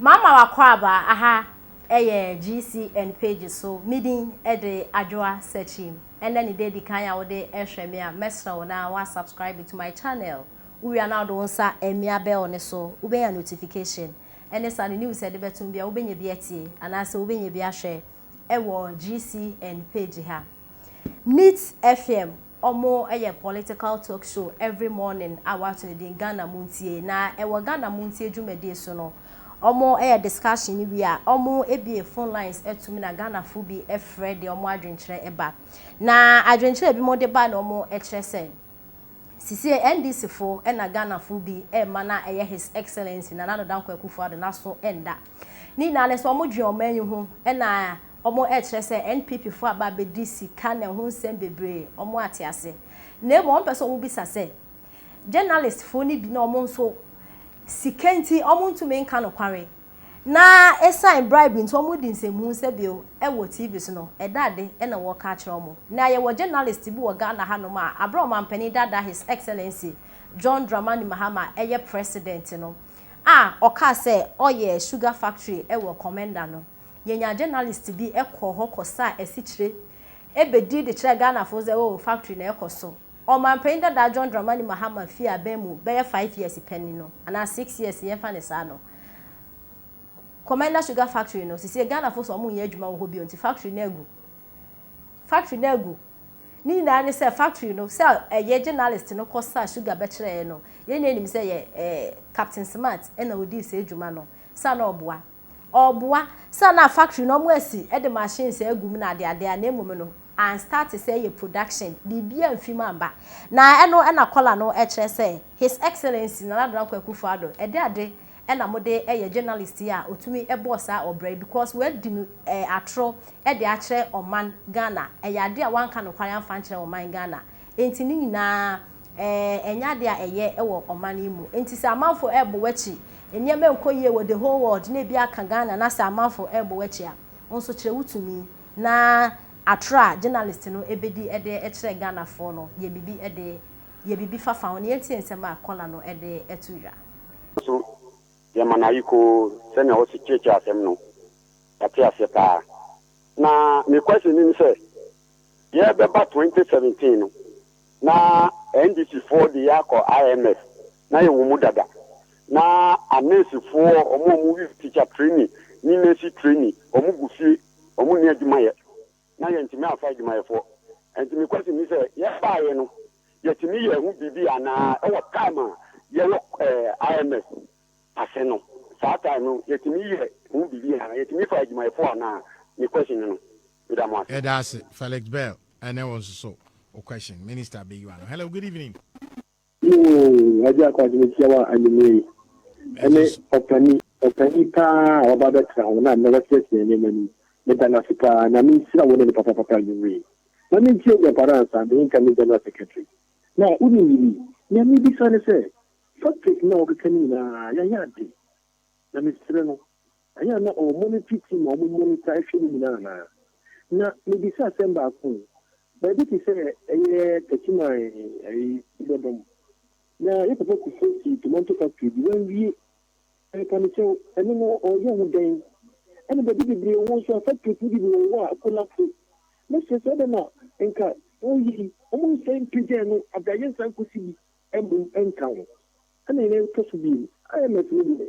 Mama w'akwaabaa aha yɛ GCN page so, me din de Adwoa Sakyim. Ɛnnɛ ne da edi kan a wode rehwɛ me a, mɛsrɛ wo na wa subscribe to my channel. Wo wie a na wode wo nsa amia bell no so, wobenya notification. Ɛne saa no news a yɛde bɛto no biara wobenya bi atie anaasɛ wobenya bi ahwɛ wɔ GCN page ha. Neat FM Ɔmo yɛ political talk show every morning a w'ato ne din Ghana Muntie na ɛwɔ Ghana Muntie dwumadie so no ɔmo yɛ discussion no wie a ɔmo bue phone lines to mu na Ghanafoɔ bi frɛ deɛ ɔmo adwenkyerɛ ba na adwenkyerɛ a binom de ba na ɔmo kyerɛ sɛ sisiei NDC foɔ na Ghanafoɔ bi ma no a ɛyɛ His Excellency Nana Addo Dankwa Akufo-Addo n'aso nda ne nyinaa ne sɛ ɔmo dwen ɔman yi ho na Ɔmo ɛkyerɛ sɛ NPP foɔ aba abɛdi sika na ɛho nsɛm bebree, ɔmo ate ase. Na mmom ɔmo pɛ sɛ ɔmo bisa sɛ, journalist foɔ no bi na ɔmo nso sika nti ɔmo ntumi nka nokware, na esan bribe nti ɔmo di nsɛmhunu sɛ bio ɛwɔ TV so no, ɛda ade ɛna wɔka akyerɛ ɔmo. Na yɛwɔ journalist bi wɔ Ghana ha nom a aberɛ a Ɔmanpanin daadaa His Excellency John Dramani Mahama a ɛyɛ President no a ɔkaa sɛ ɔyɛ sugar factory ɛwɔ Commenda no, yɛnyaa journalist bi kɔɔ hɔ kɔsaa asikyire bɛdii de kyerɛɛ Ghanafo sɛ oh factory na ɛrekɔ so. Ɔmanpanin dada John Dramani Mahama fii abɛn mu bɛyɛ five years pɛ ni no, anaa six years yɛmfa no saa no, Commander Sugar Factory no, sesie Ghanafo se wɔnnyɛ adwuma wɔ hɔ bio nti factory no agu. Factory no agu. Ne nyinaa ne sɛ factory no, sɛ ɛyɛ journalist no kɔsaa sugar bɛkyerɛeɛ no, yɛn nyinaa nim sɛ ɛyɛ Captain Smart na ɔdii saa adwuma no, sɛ a na ɔboa. Ɔɔboa sɛ na factory no ɔmo asi de machines agu mu na adeade a na mmom no an start sɛ yɛ production biribiaa mfi mu amba na ɛno na kɔla no kyerɛ sɛ His Excellency Nana Addo Dankwa Akufo Addo ɛdɛ ade na mode yɛ journalist yi a ɔtumi bɔɔ saa ɔbra yi because wadi no atoro de akyerɛ ɔman Ghana ɛyɛ ade a wanka nokware amfa nkyerɛ ɔman Ghana nti ne nyinaa Ɛɛ, ɛnyɛ ade a ɛyɛ wɔ ɔman yi mu. Enti sɛ amanfo rebo w'akyi, nneɛma nkɔ yie wɔ the whole world, na ebi aka Ghana na sɛ amanfo rebo w'akyi a, wo nso kyerɛ wo tumi na atoro a journalist no bedi de kyerɛ Ghanafoɔ no, yɛ biribi de yɛ biribi fa fa ho na yɛntie nsɛm a caller no de to dwa. So yɛma no ayekoo sɛnea ɔsi kyerɛkyerɛ asɛm no? Yɛate aseɛ paa. Na me question no ne sɛ, yɛrebɛba twenty seventeen no, Na NDC foɔ de yɛ akɔ IMF na yɛ wɔ mu dada na anurse foɔ ɔmo a ɔmo wi teacher training ne nurse training ɔmo gu fie ɔmo nni adwuma yɛ na yɛ ntumi amfa adwumayɛfoɔ nti me question ne sɛ yɛ baayɛ no yɛ tumi yɛ ho biribi anaa ɛwɔ time a yɛ wɔ ɛɛ IMF ase no saa time no yɛ tumi yɛ ho biribi anaa yɛ tumi fa adwumayɛfoɔ anaa me question ne no. Meda mo ase. Yɛda ase Felix Bell ɛne wo nso so wo question minister bɛ yiwa no hello good evening. Ooh Agya Kwasi mekyia wo anwumerɛ yi. Ɛne ɔpani ɔpani paa a waba abɛtra hɔ na nnɛ wakyerɛkyerɛ nneɛma no mu. Meda no ase paa. Nyame nhyira wo ne no papapapa anwumerɛ yi. Ma mentie Agya Paransa me nka ne General Secretary. Na wonim biribi? Nea mebisa ne sɛ, topic no a wɔkeka no nyinaa yɛayɛ ade. Na mesrɛ no. Ɛnyɛ a na ɔwɔ monetary team a wɔn money taa hwɛ ne nyinaa anaa? Na mebisa asɛm baako o, baabi te sɛ ɛyɛ Techiman ɛyi Ibɔdɔm, na yɛ papa Kufuor sii tomanto factory bi, wanwie, ɛɛ ka me kyɛw, ɛno no ɔreyɛ ho dɛn? Ɛna baabi bebree wɔ nso a factories no bi bi wɔ hɔ a akolapse, mɛsrɛ sɛ adɛn na nka ɔreyɛ yi, wɔn nsan mpagya ɛno ada yɛnsan nkɔsi bi mmom nka ho, ɛna yɛn ɛretɔ so bio, IMF no deɛ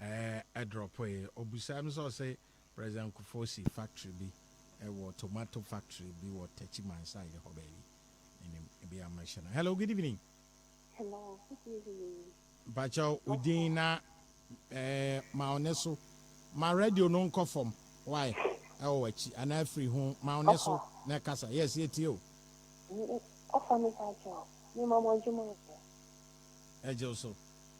Ɛɛ drɔpoe. Ɔbisaa me sɛ ɔse President Kufuor si factory bi wɔ tomato factory bi wɔ Tekyi Mansaye hɔ baabi. Menim ebia mɛhyɛ no. Hello good evening. Hello good evening. Mpakyɛw wo din na ɛɛ ma wo ne so. Ma radio no nkɔ fam why ɛwɔ w'akyi anaa firi ho ma wo ne so na ɛkasa yes yɛtie wo. Ɔfa me mpakyɛw me ma mo adwuma yɛ. Ɛgye wo so.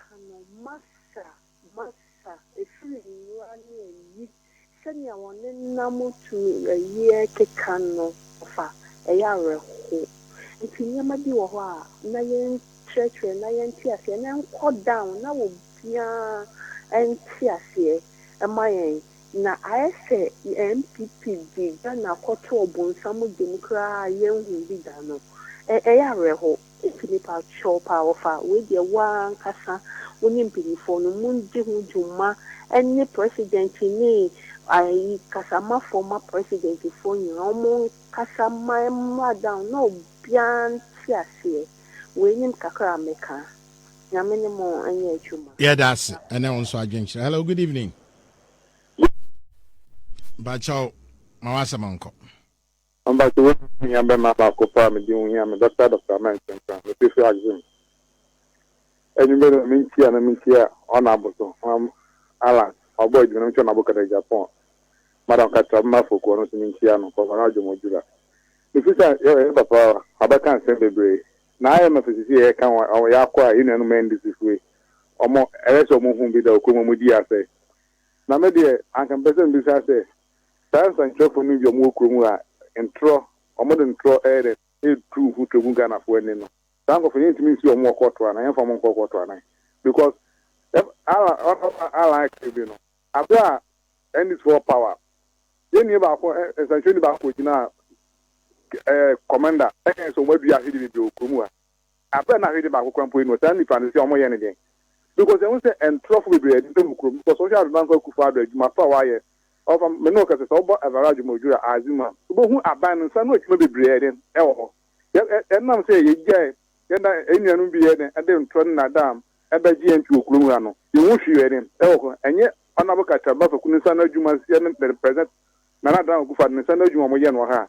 Ka no masa masa ɛfiri nwura ne ayi sɛdeɛ wɔne nam tumi yɛ keka no fa ɛyɛ awerɛho nti nneɛma bi wɔ hɔ a na yɛn kyerɛkyerɛ na yɛn te aseɛ na ɛnkɔ down na wɔ biaa ɛnte aseɛ ɛma yɛn na ayɛ sɛ NPP de Ghana kɔto ɔbonsam gyem koraa a yɛn hu bi da no ɛyɛ awerɛho. Enti mepa kyɛw paa wɔfa wei deɛ wo ara ankasa wo ne mpaninfoɔ no mo ndi ho dwuma ɛne president ne ayi kasamafoɔ ma president foɔ nyinaa wɔn mo nkasa ma ɛmmra down na obiara nte aseɛ wei nim kakra a me ka Nyame ne mo nyɛ adwuma. Yɛda ase ɛne wo nso adwenkyerɛ. Hello good evening. Mpakyɛw ma w'asɛm nkɔ. Ɔmba so woho hia mbɛma abaako paa medze ho hia me dɔkta Dɔkta Amen Sempra metse fri Axim enyimber na mentsia na mentsia ɔna aboso hɔn Alan ɔbɔ edwuma na mentsia ɔna abo kada Japan madam katra bɛma afoku ɔno so mentsia no kɔba na adwom ɔdwura mefiri sa yɛ ɔyɛ papa abɛka nsɛm bebree na ayɛ ma firi sisi yɛ ka ɔmo yɛ akɔ a yɛ nuanom ɛndisi fue ɔmo ɛyɛ sɛ ɔmo hu bi da ɔkɔ mu ɔmo di asɛ na medeɛ anka mpɛsɛ mbisa sɛ Saa nsɛnkyerɛwfo no yɛ wɔn kurom a ntorɔ, wɔde ntorɔ yɛ dɛn, retu ho to gu Ghanafo anim no. Saa nkorɔfo no yɛntumi nsi wɔn wɔ kɔɔto anaa yɛmfa wɔn nkɔ kɔɔto anan because yɛb Allan ɔfa Allan aka bi no, aberɛ a NDC fo wɔ power, yɛn nua baako ɛ nsɛnkyerɛwni baako kɔgyinaa ɛ commander ɛkae sɛ wɔn adua ahwɛdeɛ bebree wɔ kurom ha. Aber a na hwee de baako kora mpo nnyi hɔ, saa nyimpa no nse a wɔyɛ no dɛn? Because yɛhu dɛ ntorɔfo beberee a wɔdeda mu kurow mu, because wɔhwɛ Adodankwa Akufo-Addo adwuma pa a ɔayɛ, ɔfa me no ɔkasa, sɛ wɔbɔ Evara Ajumodwor a adze mu a, wobohu aban no nsa ano edwuma beberee a ɔyɛ dɛn? ɔwɔ hɔ. Yɛ nam sɛ yegyae hɛn enuanom bi yɛ dɛn? ɔde ntorɔ ne nadam bɛgye hɛn ntsi wɔ kurow mu ha no, yennhu hwee a ɔyɛ dɛn? ɔwɔ hɔ. Nnyɛ Honourable Katsar Bafaku ne nsa ano edwuma, yɛ ne President Nana Addo Dankwa Akufo-Addo ne nsa ano edwuma a wɔyɛ no wɔ ha a